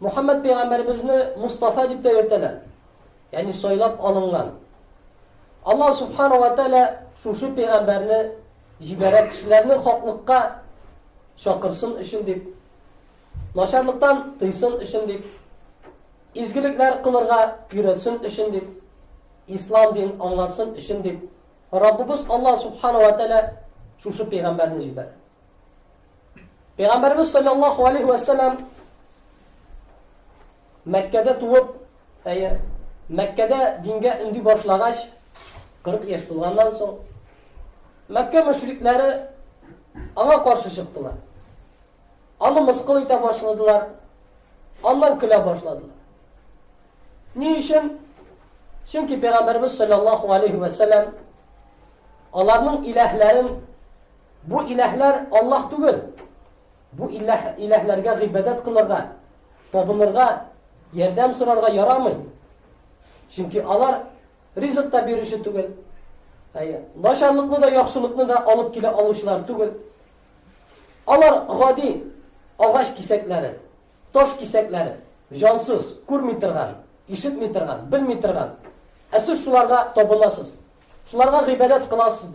Мөхәммәд пәйгамбәребезне Мустафа дип тә йөртәләр. Ягъни сайлап алынган. Аллаһ субхана ва тәгалә шушы пәйгамбәрне җибәрә кешеләрне хаклыкка чакырсын өчен дип, начарлыктан тыйсын өчен дип, изгелекләр кылырга өйрәтсен өчен дип, ислам дин аңлатсын өчен дип, Раббыбыз Аллаһ субхана ва тәгалә шушы пәйгамбәрне җибәрә. Пәйгамбәрбез саллаллаһу алейхи вә сәллам Мәккәдә туып, әйе, Мәккәдә дингә өнди башлагач, 40 яшь тулганнан соң Мәккә мөшрикләре аңа каршы чыктылар. Аны мыскыл итә башладылар, аннан көлә башладылар. Ни өчен? Чөнки Пәйгамбәрбез саллаллаһу алейхи вә сәллам аларның иләһләрен Бу иләһләр Аллаһ түгел. Бу иләһ, иләһләргә гыйбадәт кылырга, табынырга, ярдәм сорарга ярамый. Чөнки алар ризык та бирүче түгел. Әйе, начарлыкны да, яхшылыкны да алып килә алучылар түгел. Алар гади агач кисәкләре, таш кисәкләре, җансыз, күрми торган, ишетми торган, белми торган. Ә сез шуларга табынасыз. Шуларга гыйбадәт кыласыз.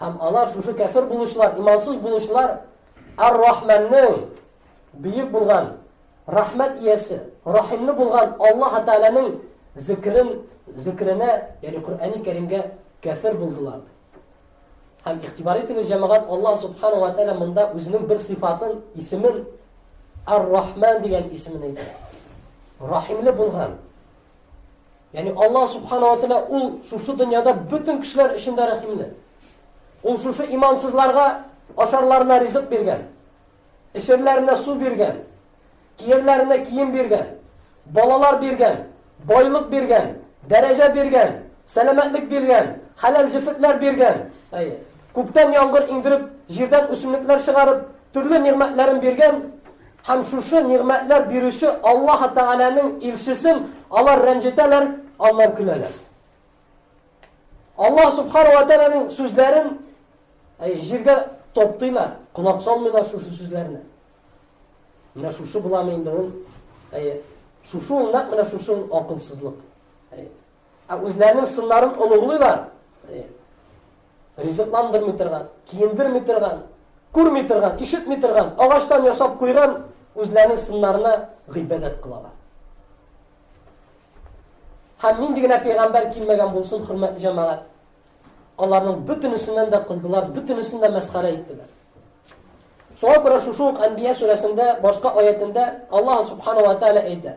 Һәм алар шушы кәфер булучылар, имансыз булучылар Ар-Рахманның бөек булган рәхмәт иясе, рәхимле булган Аллаһ Тәгаләнең зикрен, зикренә, ягъни Коръәни Кәримгә кәфер булдылар. Һәм игътибар итегез, җәмәгать, Аллаһ Субхану ва Тәгалә монда үзенең бер сыйфатын, исемен Ар-Рахман дигән исемен әйтә. Рәхимле булган. Ягъни Аллаһ Субхана ва Тәгалә ул шушы дөньяда бөтен кешеләр өчен дә рәхимле. Ул шушы имансызларга ашарларына ризык биргән, эчерләренә су биргән, киерләренә кием биргән, балалар биргән, байлык биргән, дәрәҗә биргән, сәламәтлек биргән, хәләл җефетләр биргән. Әйе. Күктән яңгыр иңдереп, җирдән үсемлекләр чыгарып, төрле нигъмәтләрен биргән Һәм шушы нигъмәтләр бирүче Аллаһы Тәгаләнең илчесен алар рәнҗетәләр, аннан көләләр. Аллаһ Субхану ва Тәгаләнең сүзләрен әй, җиргә топтыйлар, колак салмыйлар шушы сүзләрне. Менә шушы буламы инде ул? Әй, шушы ул нәкъ менә шушы ул акылсызлык. Әй, ә үзләренең сыннарын оныгылыйлар. Әй, Ризыкландырмый торган, киендерми торган, күрми торган, ишетми торган, агачтан ясап куйган үзләренең сыннарына гыйбадәт кылалар. Һәм нинди генә пәйгамбәр килмәгән булсын, хөрмәтле җәмәгать, аларның бөтенесеннән дә кылдылар, бөтенесен дә мәсхәрә иттеләр. Шуңа күрә шушы ук Әнбия сүрәсендә башка аятендә Аллаһ субхана ва тәгалә әйтә: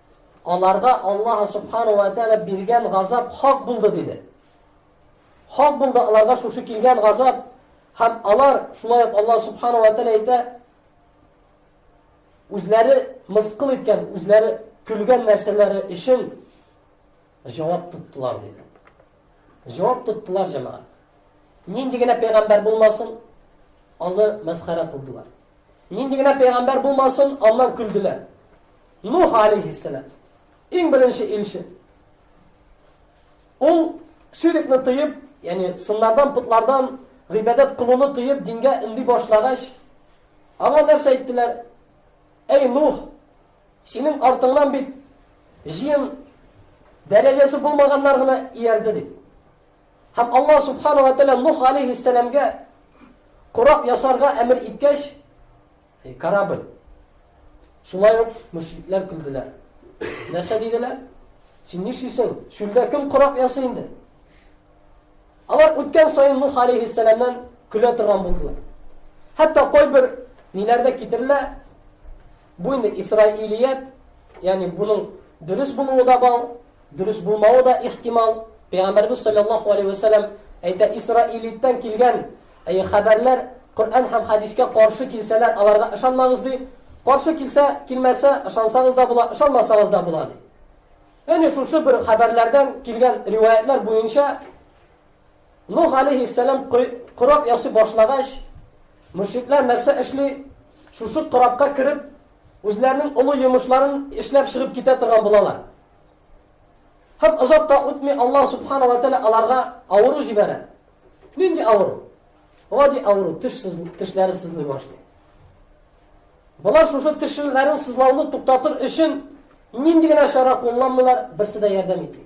Аларга Аллаһ Субхана уә Тәгалә биргән газап хак булды, диде. Хак булды аларга шушы килгән газап, һәм алар, шулай ук Аллаһ Субхана уә Тәгалә әйтә, үзләре мыскыл иткән, үзләре көлгән нәрсәләре өчен Җавап тоттылар, диде. Җавап тоттылар, җәмәгать. Нинди генә пәйгамбәр булмасын, аны мәсхәрә кылдылар. Нинди генә пәйгамбәр булмасын, аннан көлделәр. Нух алейхиссалам, иң беренче илче. Ул ширекне тыеп, ягъни сыннардан, путлардан гыйбадәт кылуны тыеп, дингә өнди башлагач, аңа нәрсә әйттеләр? Әй Нух, Синең артыңнан бит җыен дәрәҗәсе булмаганнар гына иярде дип. Һәм Аллаһ субхану ва тәгалә Нух алейхиссәламгә кораб ясарга әмер иткәч, корабль. Шулай ук мөшрикләр көлделәр. Нәрсә диделәр? Син нишлисең? Шүлдә кем кораб ясый инде? Алар үткән саен Нух алейхиссәламнан көлә торган булдылар. Хәтта кайбер ниләрдә китерелә, Бу инде исраилият, ягъни буның дөрес булуы да бар, дөрес булмавы да ихтимал. Пәйгамбәрбез салләллаһу алейһи вә сәлләм әйтә, исраилиттән килгән хәбәрләр Коръән һәм хәдискә каршы килсәләр, аларга ышанмагыз ди. Каршы килсә, килмәсә, ышансагыз да була, ышанмасагыз да була ди. Ягъни шушы бер хәбәрләрдән килгән риваятьләр буенча Нух алейһиссәлам кораб ясый башлагач, мөшрикләр нәрсә эшли? Шушы корабка кереп, үзләренең олы йомышларын эшләп чыгып китә торган булалар. Һәм озак та үтми Аллаһ субхана ва тәгалә аларга авыру җибәрә. Нинди авыру? Гади авыру, теш сыз, тешләре сызлый башлый. Болар шушы тешләрен сызлауны туктатыр өчен нинди генә чара кулланмыйлар, берсе дә ярдәм итми.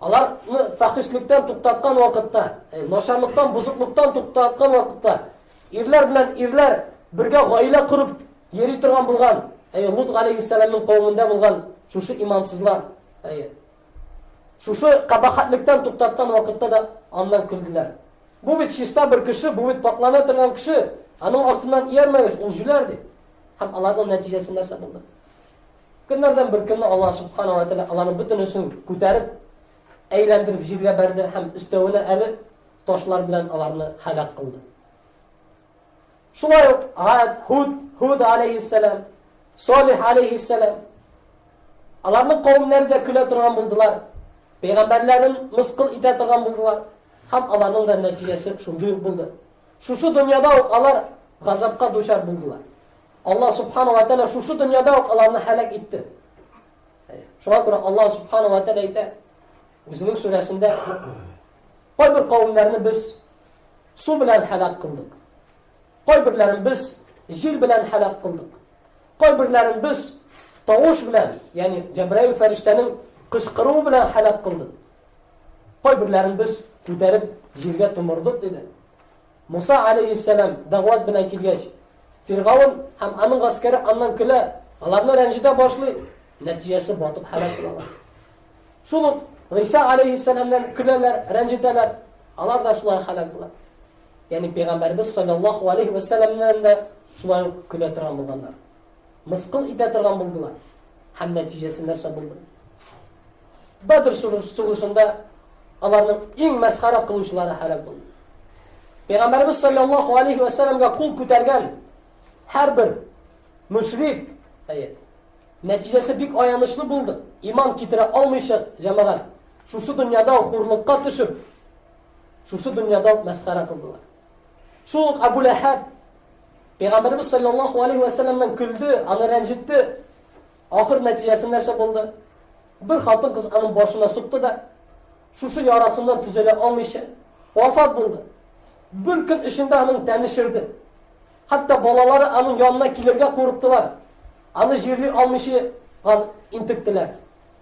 Аларны фәхишлектән туктаткан вакытта, э, начарлыктан, бозыклыктан туктаткан вакытта, ирләр белән ирләр бергә гаилә корып йөри торган булган, әй Лут галәйһиссәламның кавымында булган шушы имансызлар, әй шушы кабахатлектан туктаткан вакытта да аннан көлделәр. Бу бит чиста бер кеше, бу бит паклана торган кеше, аның артыннан иярмәгез, ул җүләр ди. Һәм аларның нәтиҗәсе нәрсә булды? Көннәрдән бер көнне Алла субхана ва тәгалә аларның бөтенесен күтәреп, әйләндереп җиргә бәрде һәм өстәвенә әле ташлар белән аларны һәлак кылды. Шулай ук Ад, Худ, Худ алейхиссалам, Солих алейхиссалам аларның кавемнәре дә көлә торган булдылар. Пәйгамбәрләрен мыскыл итә торган булдылар. Һәм аларның да нәтиҗәсе шундый булды. Шушы дөньяда ук алар газапка дучар булдылар. Аллаһ Субхану ва Тәгалә шушы дөньяда ук аларны һәлак итте. Шуңа күрә Аллаһ Субхану ва Тәгалә әйтә, үзенең сүрәсендә кайбер кавемнәрне без су белән һәлак кылдык. Кайберләрен без җил белән һәлак кылдык. Кайберләрен без тавыш белән, ягъни Җәбраил фәрештәнең кычкыруы белән һәлак кылдык. Кайберләрен без күтәреп җиргә томырдык диде. Муса галәйһиссәлам дәгъват белән килгәч, Фиргавен һәм аның гаскәре аннан көлә, аларны рәнҗетә башлый, нәтиҗәсе батып һәлак булалар. Шул ук Гыйса галәйһиссәламнан көләләр, рәнҗетәләр, алар да шулай һәлак була. Ягъни пәйгамбәрбез саллаллаһу алейхи ва саллямнан да шулай ук көлә торган булганнар. Мыскыл итә торган булдылар. Һәм нәтиҗәсе нәрсә булды? Бәдр сугышында аларның иң мәсхәрә кылучылары һәлак булды. Пәйгамбәрбез саллаллаһу алейхи ва салламга кул күтәргән һәрбер мөшрик, әйе, нәтиҗәсе бик аянычлы булды. Иман китерә алмыйча җәмәгать шушы дөньяда хурлыкка төшеп, шушы дөньяда мәсхәрә кылдылар. Шул Абу Ләһәб Пәйгамбәребез саллаллаху алейхи вә сәлләмнән көлде, аны рәнҗетте. Ахыр нәтиҗәсе нәрсә булды? Бер хатын кыз аның башына сукты да, шушы ярасыннан төзәлә алмыйча, вафат булды. Бер көн эчендә аның тәне шерде. Хәтта балалары аның янына килергә курыктылар. Аны җирли алмыйча газ интектеләр.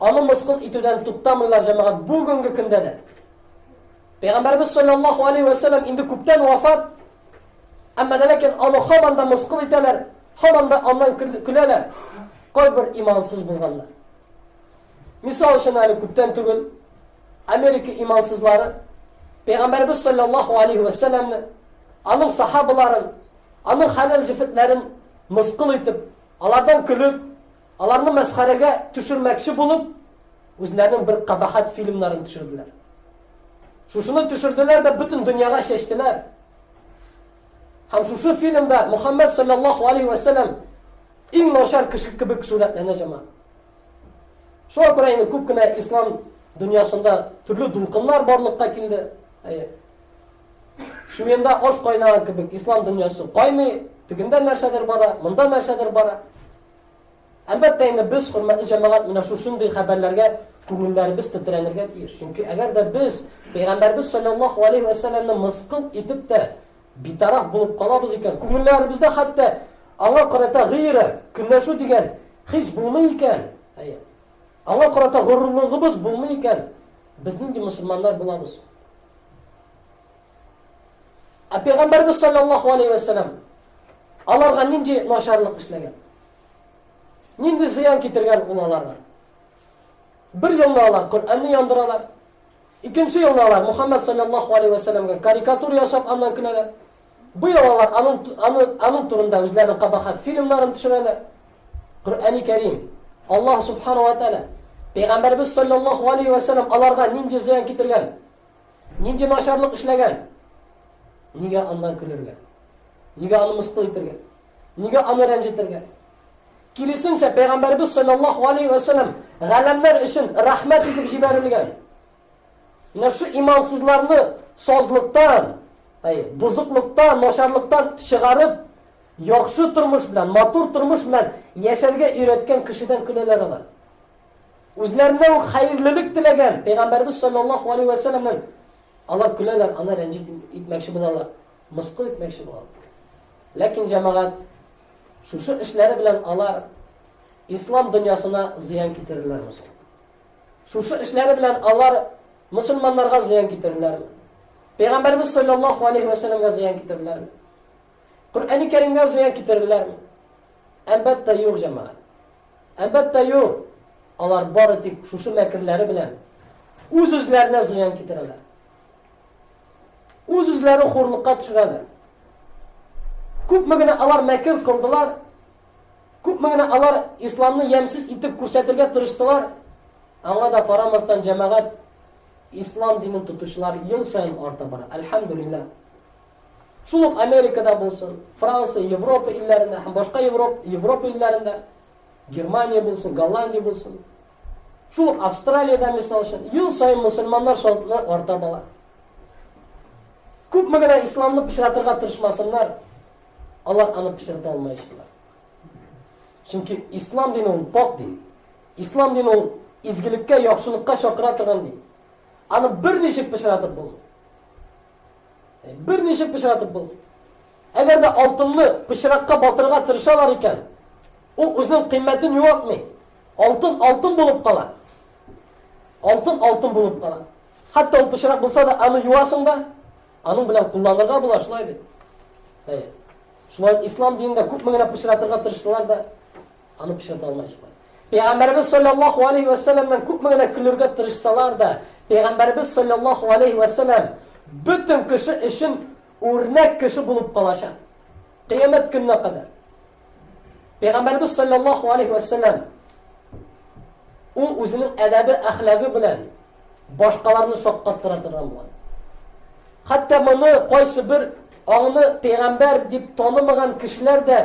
Аны мыскыл итүдән туктамыйлар җәмәгать бүгенге көндә дә. Пәйгамбәрбез саллаллаһу алейхи ва саллям инде күптән вафат. Әмма дә ләкин аны һаман да мыскыл итәләр, һаман да аннан көләләр. Кайбер имансыз булганнар. Мисал өчен әле күптән түгел Америка имансызлары Пәйгамбәрбез саллаллаһу алейхи ва саллямны, аның сахабаларын, аның хәләл җефетләрен мыскыл итеп, алардан көлеп, Аларны мәсхәрәгә төшермәкче булып, үзләренең бер кабахәт фильмнарын төшерделәр. Шушыны төшерделәр дә бөтен дөньяга чәчтеләр. Һәм шушы фильмда Мухаммад саллаллаху алейхи ва саллям иң начар кеше кебек сурәтләнә җама. Шуңа күрә инде күп кенә ислам дөньясында төрле дулкыннар барлыкка килде. Әйе. Шуенда аш кайнаган кебек ислам дөньясы кайный, тегендә нәрсәдер бара, монда нәрсәдер бара. Әлбәттә инде без, хөрмәтле җәмәгать, менә шушындый хәбәрләргә күңелләребез тетрәнергә тиеш. Чөнки әгәр дә без Пәйгамбәрбез саллаллаһу алейһи ва сәлламне мыскыл итеп тә битараф булып калабыз икән, күңелләребездә хәтта аңа карата гыйра, көнләшү дигән хис булмый икән, әйе. Аңа карата горурлыгыбыз булмый икән, без нинди мусламаннар булабыз? Ә пәйгамбәрбез саллаллаһу алейһи вә сәллам аларга нинди начарлык эшләгән? Нинди зыян китергән ул аларга? Бер елны алар Коръәнне яндыралар. Икенче елны алар Мухаммад саллаллаһу алейһи вә сәлләмгә карикатур ясап аннан көләләр. Бу ел алар аның аның аның турында үзләренең кабахат фильмнарын төшерәләр. Коръәни Кәрим Аллаһ субхана ва тааля пәйгамбәрбез саллаллаһу алейһи вә сәлләм аларга нинди зыян китергән? Нинди начарлык эшләгән? Нигә аннан көлергә? Нигә аны мыскыл итергә? Нигә аны рәнҗетергә? Киресенчә, Пәйгамбәрбез саллаллаху алейхи ва саллям галәмнәр өчен рәхмәт итеп җибәрелгән. Менә шу имансызларны сазлыктан, әй, бузыклыктан, начарлыктан чыгарып, яхшы тормыш белән, матур тормыш белән яшәргә өйрәткән кешедән көләләр алар. Үзләренә үк хәерлелек теләгән Пәйгамбәрбез саллаллаһу алейһи вә сәлләмнән алар көләләр, аны рәнҗет итмәкче булалар, мыскыл итмәкче булалар. Ләкин җәмәгать шушы эшләре белән алар ислам дөньясына зыян китерерләр мисал. Шушы эшләре белән алар мусульманнарга зыян китерерләр. Пәйгамбәрбез саллаллаһу алейһи вә сәлләмгә зыян китерерләр. Коръәни Кәримгә зыян китерерләр. Әлбәттә, юк җәмәгать. Әлбәттә юк! Алар бары тик шушы мәкерләре белән үз-үзләренә зыян китерәләр. Үз-үзләрен хурлыкка төшерәләр. Күпме генә алар мәкер кылдылар, күпме генә алар исламны ямьсез итеп күрсәтергә тырыштылар, аңа да карамастан җәмәгать ислам динен тотучылар ел саен арта бара. Әлхәмдүлилләһ. Шул ук Америкада булсын, Франция, Европа илләрендә һәм башка Европ, Европа илләрендә, Германия булсын, Голландия булсын, шул ук Австралиядә, мисал өчен, ел саен мусульманнар саны арта бала. Күпме генә исламны пычратырга тырышмасыннар, алар аны пычрата алмаячаклар. Чөнки ислам дине ул пак дин. Ислам дине ул изгелеккә, яхшылыкка чакыра торган дин. Аны берничек пычратып булмый. Берничек пычратып булмый. Әгәр дә алтынны пычракка батырырга тырышалар икән, ул үзенең кыйммәтен югалтмый. Алтын алтын булып кала. Алтын алтын булып кала. Хәтта ул пычрак булса да, аны юасың да, аның белән кулланырга була, шулай бит. Әйе. Шулай ислам динендә күпме генә пычратырга тырыштылар да, Аны пычрата алмаячак. Пәйгамбәрбез саллаллаһу алейһи ва сәлламнан күпме генә көлергә тырышсалар да, пәйгамбәрбез саллаллаһу алейһи ва сәллам бөтен кеше өчен үрнәк кеше булып калачак. Кыямәт көненә кадәр. Пәйгамбәрбез саллаллаһу алейһи ва сәллам ул үзенең әдәбе, әхлагы белән башкаларны шаккаттыра торган булган. Хәтта моны кайсы бер аңны пәйгамбәр дип танымаган кешеләр дә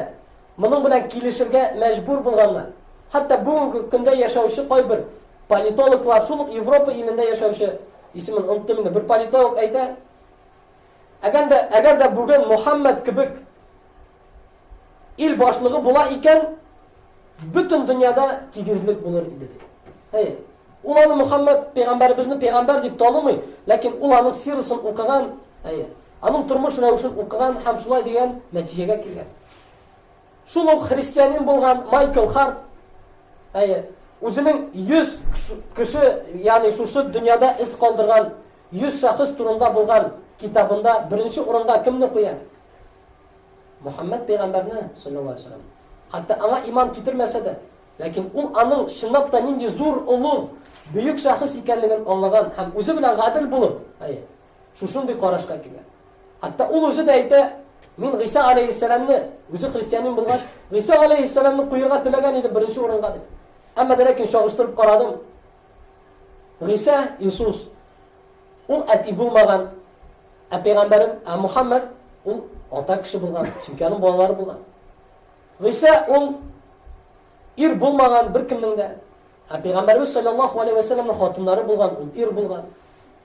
Моның белән килешергә мәҗбүр булганнар. Хәтта бүгенге көндә яшәүче кайбер политологлар, шул ук Европа илендә яшәүче, исемен оныттым инде, бер политолог әйтә, әгәр дә, әгәр дә бүген Мухаммад кебек ил башлыгы була икән, бөтен дөньяда тигезлек булыр иде дип. Әйе. Ул аны Мухаммад пәйгамбәребезне пәйгамбәр дип танымый, ләкин ул аның сирасын укыган, әйе, аның тормыш рәвешен укыган һәм шулай дигән нәтиҗәгә килгән. Шул ук христианин булган Майкл Харт, әйе, үзенең 100 кеше, ягъни шушы дөньяда эз калдырган 100 шәхес турында булган китабында беренче урында кемне куя? Мухаммад пәйгамбәрне, саллаллаһу алейһи ва Хәтта аңа иман китермәсә дә, ләкин ул аның чынлап та нинди зур, олуг, бөек шәхес икәнлеген аңлаган һәм үзе белән гадел булып, әйе, шушындый карашка килә. Хәтта ул үзе дә әйтә, мин Гыйса алейһиссәламне, үзе христианин булгач, Гыйса алейһиссәламны куерга теләгән идем беренче урынга дип. Әмма дә ләкин чагыштырып карадым. Гыйса Иисус ул әти булмаган, ә пәйгамбәрем, ә Мухаммад ул ата кеше булган, чөнки аның балалары булган. Гыйса ул ир булмаган беркемнең дә, ә пәйгамбәрбез саллаллаху алейхи ва саллямның хатыннары булган, ул ир булган.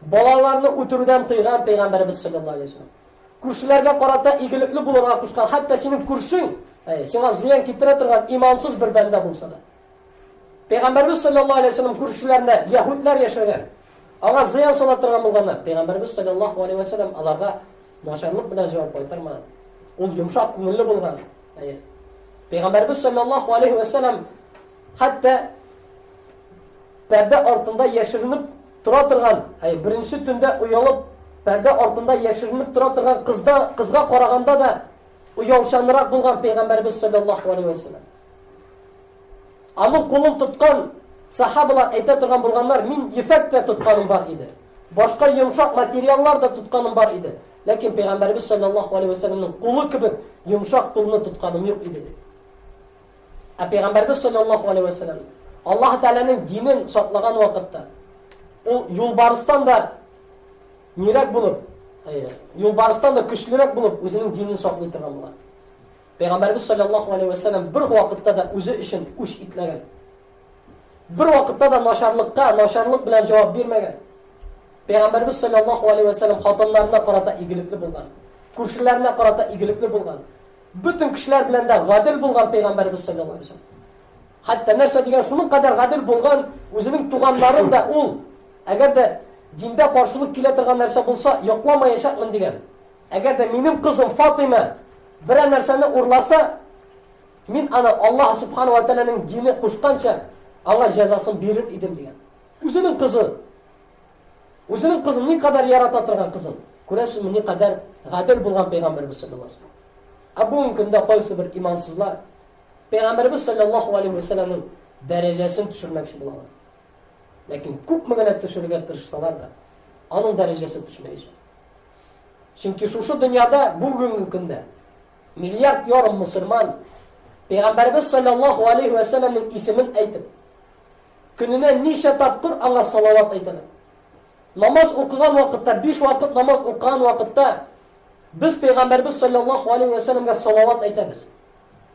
Балаларны үтерүдән тыйган Пәйгамбәребез салләллаһу алейһи ва сәлләм. Күршеләргә карата игелекле булырга кушкан, хәтта синең күршең, әйе, сиңа зыян китерә торган имансыз бер бәндә булса да. Пәйгамбәребез салләллаһу алейһи ва сәлләм күршеләрендә яһүдләр яшәгән. Аңа зыян сала торган булганнар. Пәйгамбәребез салләллаһу алейһи ва сәлләм аларга начарлык белән җавап кайтармаган. Ул йомшак күңелле булган. Әйе. Пәйгамбәребез салләллаһу алейһи ва сәлләм хәтта Пәрдә артында яшеренеп тора торган, әй, беренче төндә оялып, пәрдә артында яшеренеп тора торган кызда, кызга караганда да оялчанрак булган пәйгамбәрбез саллаллаһу алейһи ва саллям. Аның кулын тоткан сахабалар әйтә торган булганнар, мин ефәк тә тотканым бар иде. Башка йомшак материаллар да тотканым бар иде. Ләкин пәйгамбәрбез саллаллаһу алейһи ва саллямның кулы кебек йомшак кулны тотканым юк иде. Ә пәйгамбәрбез саллаллаһу алейһи вә сәлләм Аллаһ Тәгаләнең динен саклаган вакытта ул юлбарыстан да нирәк булып, юлбарыстан да көчлерәк булып үзенең динен саклый торган була. Пәйгамбәрбез саллаллаһу алейһи вә сәлләм бер вакытта да үзе өчен үч итмәгән. Бер вакытта да начарлыкка начарлык белән җавап бирмәгән. Пәйгамбәрбез саллаллаһу алейһи вә сәлләм хатыннарына карата игелекле булган, күршеләренә карата игелекле булган. Бөтен кешеләр белән дә гадел булган пәйгамбәребез саллаллаһу алейһи ва сәлләм. Хәтта нәрсә дигән шуның кадәр гадел булган, үзенең туганнарын да ул, әгәр дә диндә каршылык килә торган нәрсә булса, йокламаячакмын дигән. Әгәр дә минем кызым Фатыйма берәр нәрсәне урласа, мин аны Аллаһ субхана ва тәгаләнең дине кушканча, аңа җәзасын бирер идем дигән. Үзенең кызы Үзенең кызын никадәр ярата торган кызын. Күрәсезме, никадәр гадел булган пәйгамбәрбез саллаллаһу алейһи ва сәлләм. Ә бүгенге көндә кайсы бер имансызлар пәйгамбәрбез саллаллаһу алейһи ва сәлләмнең дәрәҗәсен төшермәкче булалар. Ләкин күпме генә төшерергә тырышсалар да, аның дәрәҗәсен төшермәячәк. Чөнки шушы дөньяда бүгенге көндә миллиард ярым мусульман пәйгамбәрбез саллаллаһу алейһи ва сәлләмнең исемен әйтеп, Көненә ничә тапкыр аңа салават әйтәләр? Намаз укыган вакытта, биш вакыт намаз укыган вакытта, без Пәйгамбәрбез салләллаһу аләйһи вә сәләмгә салават әйтәбез.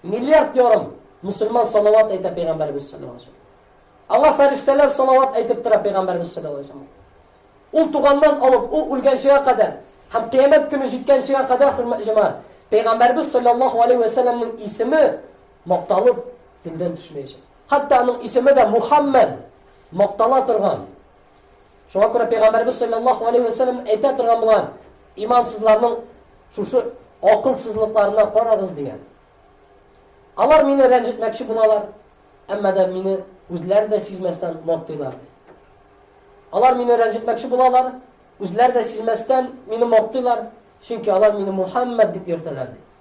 Миллиард ярым мөселман салават әйтә Пәйгамбәрбез салләллаһу аләйһи вә сәләмгә. Аңа фәрештәләр салават әйтеп тора Пәйгамбәрбез салләллаһу аләйһи вә сәләмгә. Ул туганнан алып, ул үлгәнчегә кадәр һәм кыямәт көне җиткәнчегә кадәр, хөрмәтле җәмәгать, Пәйгамбәрбез салләллаһу аләйһи вә сәләмнең исеме макталып, телдән төшмәячәк. Хәтта аның исеме дә Мухаммәд, мактала торган. Шуңа күрә Пәйгамбәребез салләллаһу алейһи вә сәлләм әйтә торган булган, имансызларның шушы акылсызлыкларына карагыз дигән. Алар мине рәнҗетмәкче булалар, әмма да мине үзләре дә сизмәстән мактыйлар. Алар мине рәнҗетмәкче булалар, үзләре дә сизмәстән мине мактыйлар, чөнки алар мине Мухаммәд дип йөртәләр.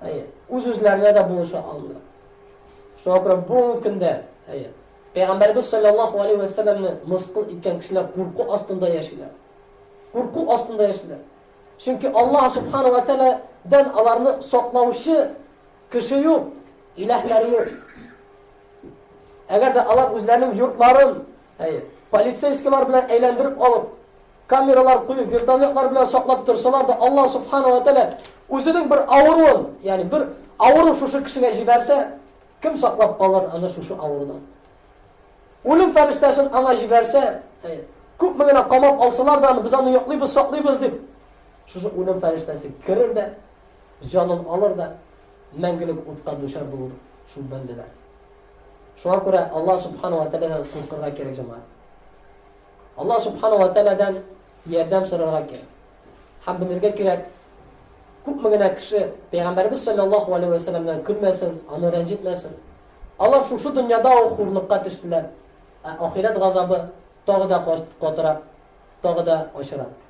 әйе, үз-үзләренә дә булыша алмыйлар. Шуңа күрә бүгенге көндә, әйе, Пәйгамбәрбез саллаллаху алейхи ва сәлламне мыскыл иткән кешеләр курку астында яшиләр. Курку астында яшиләр. Чөнки Аллаһ субхана ва тәгаләдән аларны саклаучы кеше юк, иләһләре юк. Әгәр дә алар үзләренең йортларын, әйе, полицейскийлар белән әйләндереп алып, Камералар куеп, вертолетлар белән саклап торсалар да, Аллаһ Субхана ва Тәгалә үзенең бер авыруын, ягъни бер авыру шушы кешегә җибәрсә, кем саклап калыр аны шушы авырудан? Үлем фәрештәсен аңа җибәрсә, күпме генә камап алсалар да, без аны яклыйбыз, саклыйбыз дип, шушы үлем фәрештәсе керер дә, җанын алыр да, мәңгелек утка дучар булыр шул бәндәләр. Шуңа күрә Аллаһ субхана ва тәгаләдән куркырга кирәк җәмәгать. Аллаһ Субхана уә Тәгаләдән ярдәм сорарга кирәк. Һәм белергә кирәк, күпме генә кеше Пәйгамбәребез салләллаһу алейһи вә сәлләмнән көлмәсен, аны рәнҗетмәсен. Алар шушы дөньяда ук хурлыкка төштеләр, ә ахирәт газабы тагы да катырак, тагы да ачырак.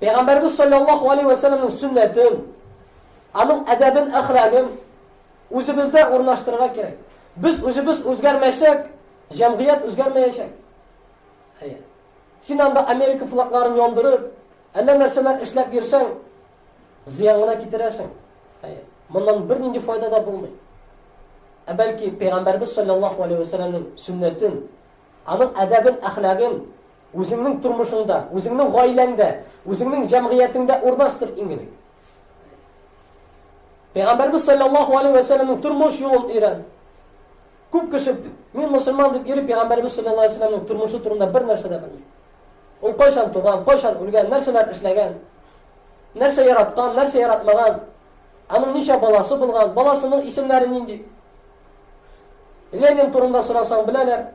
Пәйгамбәребез салләллаһу алейһи вә сәлләмнең сөннәтен, аның әдәбен, әхлагын үзебездә урнаштырырга кирәк. Без үзебез үзгәрмәсәк, җәмгыять үзгәрмәячәк. Әйе. Син анда Америка флагларын яндырып, әллә нәрсәләр эшләп йөрсәң, зыян гына китерәсең. Әйе. Моннан бернинди файда да булмый. Ә бәлки пәйгамбәрбез саллаллаһу алейһи ва сәлләмнең сөннәтен, аның әдәбен, әхлагын Үзеңнең тормышыңда, үзеңнең гаиләңдә, үзеңнең җәмгыятеңдә урнаштыр иң элек. Пәйгамбәрбез саллаллаһу алейһи ва сәлламның тормыш юлын өйрән. Күп кеше мин мусульман дип йөри пәйгамбәрбез саллаллаһу алейһи ва сәлламның тормышы турында бер нәрсә дә белми. Ул кайчан туган, кайчан үлгән, нәрсәләр эшләгән, нәрсә яраткан, нәрсә яратмаган, аның ничә баласы булган, баласының исемнәре нинди. Ленин турында сорасаң, беләләр.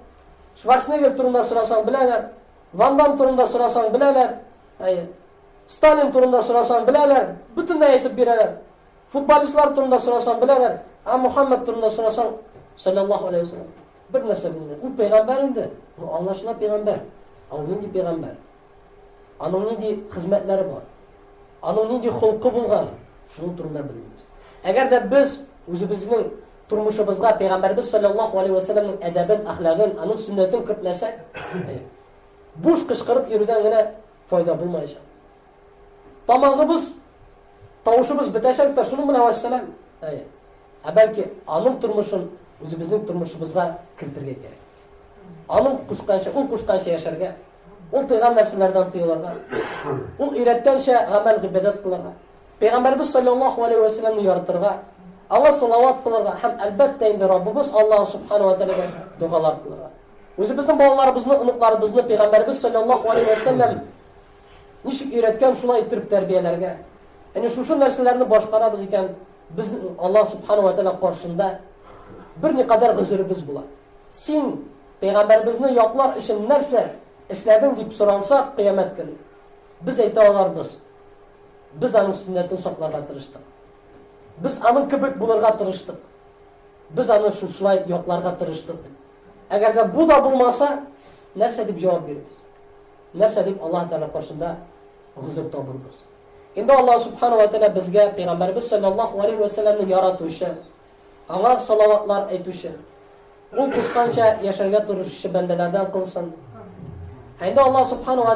Шварценеггер турында сорасаң беләләр, Ван Дам турында сорасаң беләләр, әйе. Сталин турында сорасаң беләләр, бөтенләй әйтеп бирәләр. Футболистлар турында сорасаң беләләр, ә Мухаммад турында сорасаң, саллаллаху алейхи ва саллям, бер нәрсә белмиләр. Ул пәйгамбәр инде, ну аңлашыла пәйгамбәр. Ә ул нинди пәйгамбәр? Аның нинди хезмәтләре бар? Аның нинди холкы булган? Шуның турында белмибез. Әгәр дә без үзебезнең тормышыбызга пәйгамбәрбез саллаллаһу алейхи ва сәлләмнең әдәбен, әхлагын, аның сөннәтен кертмәсәк, буш кычкырып йөрүдән генә файда булмаячак. Тамагыбыз, тавышыбыз бетәчәк тә шуның белән вәссәлам. Ә бәлки аның тормышын үзебезнең тормышыбызга кертергә кирәк. Аның кушканча, ул кушканча яшәргә Ул тыйган нәрсәләрдән тыелырга. Ул өйрәткәнчә гамәл гыйбадәт кылырга. Пәйгамбәрбез саллаллаһу алейһи ва сәлламне яртырга, аңа салават кылырга һәм әлбәттә инде Раббыбыз Аллаһ субхана ва тәгаләгә дугалар кылырга. Үзебезнең балаларыбызны, оныкларыбызны пәйгамбәрбез саллаллаһу алейһи ва сәллам ничек өйрәткән, шулай итеп тәрбияләргә. Әнә шушы нәрсәләрне башкарабыз икән, без Аллаһ субхана ва тәгалә каршында бер никадәр гозеребез була. Син Пәйгамбәребезне яклар өчен нәрсә эшләдең дип соралса, кыямәт көне без әйтә аларбыз, без аның сөннәтен сакларга тырыштык. Без аның кебек булырга тырыштык. Без аны шушылай якларга тырыштык дип. Әгәр дә бу да булмаса, нәрсә дип җавап бирербез? Нәрсә дип Аллаһ Тәгалә каршында гозер табырбыз? Инде Аллаһ Субхану ва Тәгалә безгә Пәйгамбәребез саллаллаху алейхи ва саллямны яратучы, Аңа салаватлар әйтүче. Ул кушканча яшәргә тырышучы бәндәләрдән кылсын. Ә инде Аллаһ Субхану ва